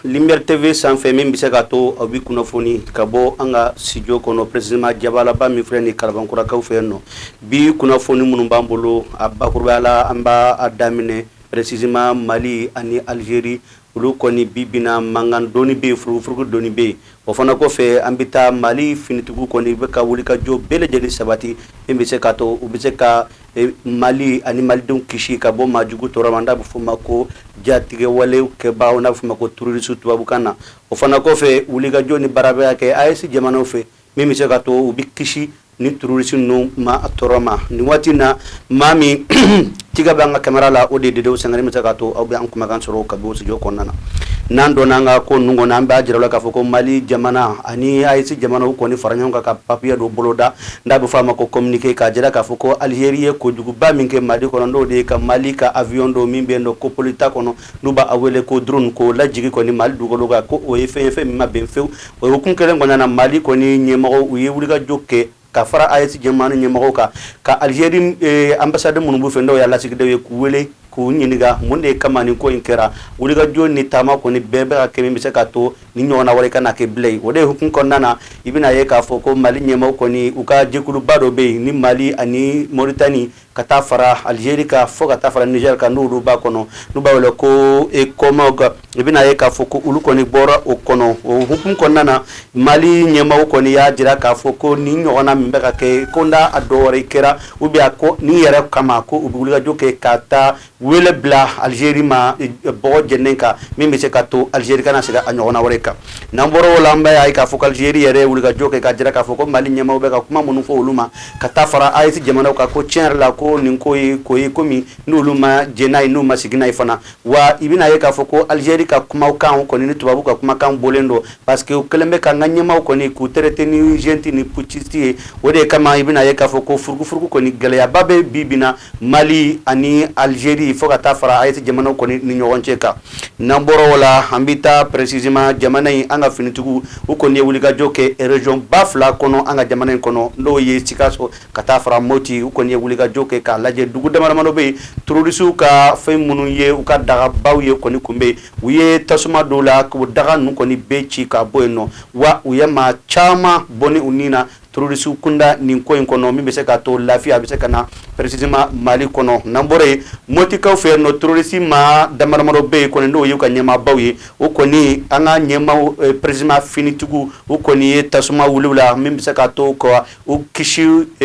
Lumière TV sanfɛ min bɛ se ka to aw bɛ kunnafoni ka bɔ an ka studio kɔnɔ précisément jabalaba min filɛ nin ye kalabankurakaw fɛ yen nɔ, bi kunnafoni minnu b'an bolo a bakurubaya la an b'a daminɛ Précisément mali ani Algérie olu kɔni bibina mankan dɔɔnin bɛ yen furugufurugu dɔɔnin bɛ yen o fana kɔfɛ an bɛ taa mali finitigiw kɔni bɛ ka wulikajɔ bɛɛ lajɛlen sabati min bɛ se ka to u bɛ se ka mali ani malidenw kisi ka bɔ maajugu tɔɔrɔ ma n'a bɛ fɔ a ma ko jatigɛwale kɛbaaw n'a bɛ fɔ a ma ko terroristes tubabukan na o fana kɔfɛ wulikajɔ ni baara bɛ ka kɛ AES jamanaw fɛ min bɛ se ka to u bɛ kisi nin terroristes ninnu maa tɔɔrɔ ma nin waati in na maa min tɛgɛ bɛ an ka kamera la o de ye Dede Sangare min bɛ se ka to aw bɛ an kumakan sɔrɔ ka bɔ studio kɔnɔna na n'an donna an ka ko ninnu kɔnɔ an b'a jira la k'a fɔ ko mali jamana ani AES jamanaw kɔni fara ɲɔgɔn kan ka papier dɔ boloda n'a bɛ f'a ma ko communiqué k'a jira k'a fɔ ko Algérie ye kojuguba min kɛ mali kɔnɔ n'o de ye ka mali ka avion dɔ min bɛ yen nɔ ko pilote t'a kɔnɔ n'u b'a wele ko drone k'o lajigin kɔni Mali dugukolo kan ko o ye fɛn ye fɛn min ma bɛn fewu o hukumu kelen kɔnɔna na Mali kɔni ɲɛmɔgɔw u ye wulikajɔ kɛ ka fara AES jamanaw ɲɛmɔgɔw kan ka Algérie eh, ambassade minnu b'u fɛ n'o y'a lasigidenw ye k'u wele k'u ɲininka mun de kama nin ko in kɛra wulikajɔ ni taama kɔni bɛɛ bɛ ka kɛ min bɛ se ka to nin ɲɔgɔnna wɛrɛ kana kɛ bilen o de hukumu kɔnɔna na i bɛna ye k'a fɔ ko mali ɲɛmɔgɔw kɔni u ka jɛkuluba dɔ bɛ yen ni mali ani Mauritanie ka taa fara Algérie kan fo ka taa fara Niger kan n'olu b'a kɔnɔ n'u b'a wele ko ECOMOG i bɛna ye k'a fɔ ko olu kɔni bɔra o kɔnɔ o hukumu kɔnɔna na mali ɲɛmɔgɔw kɔni y'a jira k'a fɔ ko nin ɲɔgɔnna min bɛ ka kɛ ko n'a a dɔ wɛrɛ kɛra ou bien ko nin yɛrɛ kama ko u bɛ wulikajɔ kɛ ka taa wele bila Algérie ma bɔgɔ jeninen kan min bɛ se ka to Algérie kana segin a ɲɔgɔnna wɛrɛ kan n'an bɔra o la an b'a ye k'a fɔ ko Algérie yɛrɛ ye wulikajɔ kɛ k'a jira k'a fɔ ko mali ɲɛmaaw bɛ ka kuma minnu fɔ olu ma ka taa fara AES jamanaw kan ko tiɲɛ yɛrɛ la ko nin ko ye ko ye ko min n'olu ma jɛn n'a ye n'u ma sigi n'a ye fana wa i bɛna ye k'a fɔ ko Algérie ka kumakan kɔni ni tubabu ka kumakan bɔlen don Parce que u kɛlen bɛ ka an ka ɲɛmaaw kɔni k'u traiter ni junte ni putschiste ye, o de kama i bɛna ye k'a fɔ ko furugufurugu kɔni gɛlɛyaba bɛ bi bi in na Mali ani Algérie fo ka taa fara AES jamanaw kɔni ni ɲɔgɔn cɛ kan, n'an bɔra o la, an bɛ taa précisément jamana in an ka finitigiw u kɔni ye wulikajɔ kɛ région ba fila kɔnɔ an ka jamana in kɔnɔ, n'o ye Sikaso ka taa fara Moti, u kɔni ye wulikajɔ kɛ k'a lajɛ dugu damadamadɔ bɛ yen terroristes ka fɛn minnu ye u ka dagabaw ye kɔni tun bɛ yen U ye tasuma don u la k'u daga ninnu kɔni bɛɛ ci ka bɔ yen nɔ wa u ye maa caman bɔnɛ u ni na terroristes kunda nin ko in kɔnɔ min bɛ se ka to lafiya a bɛ se ka na précisément mali kɔnɔ n'an bɔra yen mɔtikaw fɛ yen nɔ terroriste maa damadama dɔ bɛ yen kɔni n'o y'u ka ɲɛmaabaw ye u kɔni an ka ɲɛmaaw précisément finitigiw u kɔni ye tasuma wuli u la min bɛ se ka to kɔ u kisi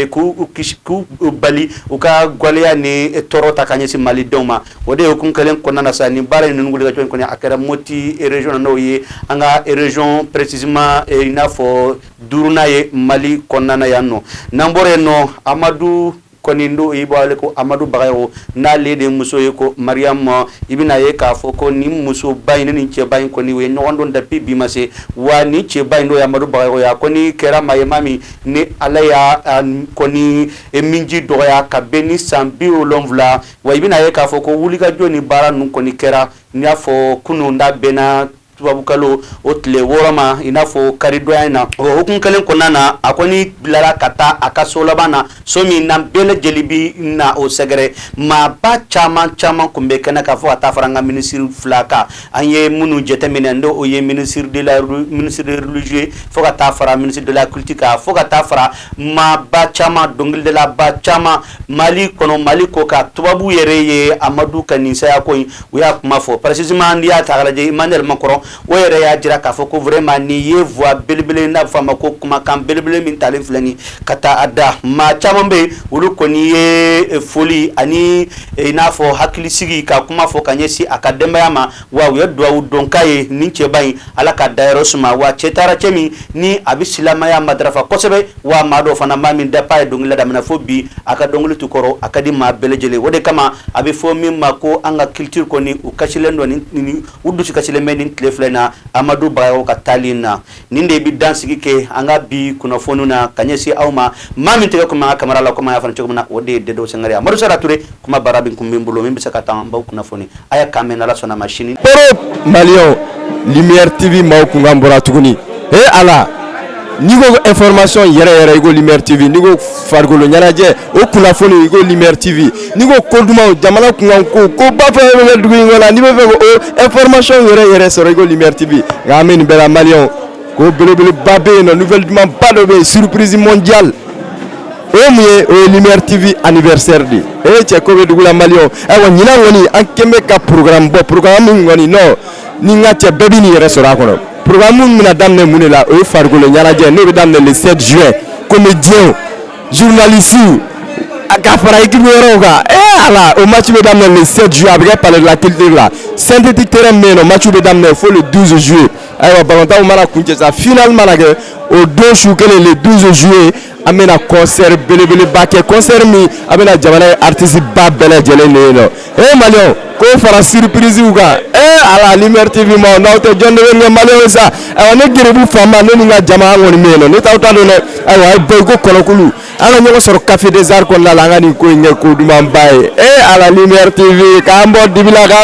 k'u k'u bali u ka gɛlɛya ni tɔɔrɔ ta ka ɲɛsin mali denw ma o de ye hukumu kelen kɔnɔna na sa nin baara in ninnu wulikajɔ in kɔnɔ a kɛra moti région na n'o ye an ka région précisément i n'a fɔ duurunan ye mali kɔnɔna yan nɔ n'an bɔra yen nɔ amadu kɔni don i b'a wele ko amadu bagayɔgɔ n'ale de muso ye ko mariam i bɛna ye k'a fɔ ko nin musoba in ni nin cɛba in kɔni u ye ɲɔgɔn dɔn depuis bi ma se wa nin cɛba in n'o ye amadu bagayɔgɔ ye a kɔni kɛra maa ye maa min ni ala y'a kɔni minji dɔgɔya ka bɛn ni san bi wolonwula wa i bɛna ye k'a fɔ ko wulikajɔ ni baara ninnu kɔni kɛra n y'a fɔ kunun da bɛnna Tubabu kalo o tile wɔɔrɔ ma i n'a fɔ karidonya in na o hukumu kelen kɔnɔna na a kɔni bilara ka taa a ka so laban na so min na bɛɛ lajɛlen bɛ na o sɛgɛrɛ maaba caman caman tun bɛ kɛnɛ kan fo ka taa fara an ka minisiri fila kan an ye minnu jateminɛ n'o ye ministre de religieux ye fo ka taa fara ministre de la culture kan fo ka taa fara maaba caman dɔnkilidalaba caman Mali kɔnɔ mali kɔkan tubabu yɛrɛ ye amadu ka nin saya ko in u y'a kuma fɔ précisément n'i y'a ta k'a lajɛ Emmanuel Macron o yɛrɛ y'a jira k'a fɔ ko vraiment nin ye voix belebele n'a fɔ a ma ko kumakan belebele min talen filɛ nin ka taa a da maa caman bɛ yen olu kɔni ye foli ani i n'a fɔ hakilisigi ka kuma fɔ ka ɲɛsin a ka denbaya ma wa u ye dugawu don k'a ye nin cɛba in Ala k'a dayɔrɔ suma wa cɛ taara cɛ min ni a bɛ silamɛya matarafa kosɛbɛ wa maa don fana maa min depuis a ye dɔnkilida daminɛ fo bi a ka dɔnkili tɛ kɔrɔ a ka di maa bɛɛ lajɛlen o de kama a bɛ fɔ min ma ko an ka culture kɔni u kasilen don u dusu kasilen bɛ nin tile fila in na amadu bagayɔgɔ ka taali in na nin de bɛ dan sigi kɛ an ka bi kunnafoni na ka ɲɛsin aw ma maa min tɛgɛ tun b'an ka kamera la kɔmi an y'a fɔ cogo min na o de ye dedewu sangare ye amadu sara ture kumabara in tun bɛ min bolo min bɛ se ka to an b'aw kunnafoni A y'a kan mɛn n'ala sɔnna ma sini maliyɛnw lumière tv maaw kunkan bɔra tuguni ee ala n'i ko information yɛrɛ yɛrɛ i ko lumière tv n'i ko farikolo ɲɛnajɛ o kunnafoni i ko lumière tv n'i ko ko dumanw jamana kunkanko ko bafɛ bɛ kɛ dugu in kɔnɔ n'i b'a fɛ k'o information yɛrɛ yɛrɛ sɔrɔ i ko lumière tv nka an bɛ nin bɛɛ mali ko belebeleba bɛ yen nɔ nouvelle dumanba dɔ bɛ yen surprise mondiale o ye mun ye o ye lumière tv anniversaire de ye ee cɛ ko bɛ dugu la maliyɛnw ayiwa ɲinan kɔni an kɛn bɛ ka programme bɔ programme min kɔni nɔ ni n ka cɛ bɛɛ bɛ n'i yɛrɛ sɔrɔ a kɔnɔ programme min bɛna daminɛ mun de la o ye farikolo ɲɛnajɛ n'o bɛ daminɛ le 7 juin comédiens journalistes a ka fara équipe wɛrɛw kan ee ala o match bɛ daminɛ le 7 juin a bɛ kɛ palais de la culture la synthétique terrain min bɛ yen nɔ match bɛ daminɛ fo le 12 juillet ayiwa balɔntanw mana kuncɛ sa finale mana kɛ o don su kelen le 12 juillet an bɛna concert belebeleba kɛ concert min a bɛna jamana ye artiste ba bɛɛ lajɛlen de ye nɔ ee maliyɛnw k'o fara surprise kan ee ala lumière tv ma n'aw tɛ jɔn de bɛ ɲɛ maliyɛnw sa ayiwa ne garibou fama ne ni n ka jama an kɔni bɛ yen nɔ ne t'aw ta dɔn dɛ ayiwa a ye bɔ i ko kɔnɔkulu an ka ɲɔgɔn sɔrɔ café des arts kɔnɔna la an ka nin ko in kɛ ko dumanba ye ee ala lumière tv k'an bɔ dibi la ka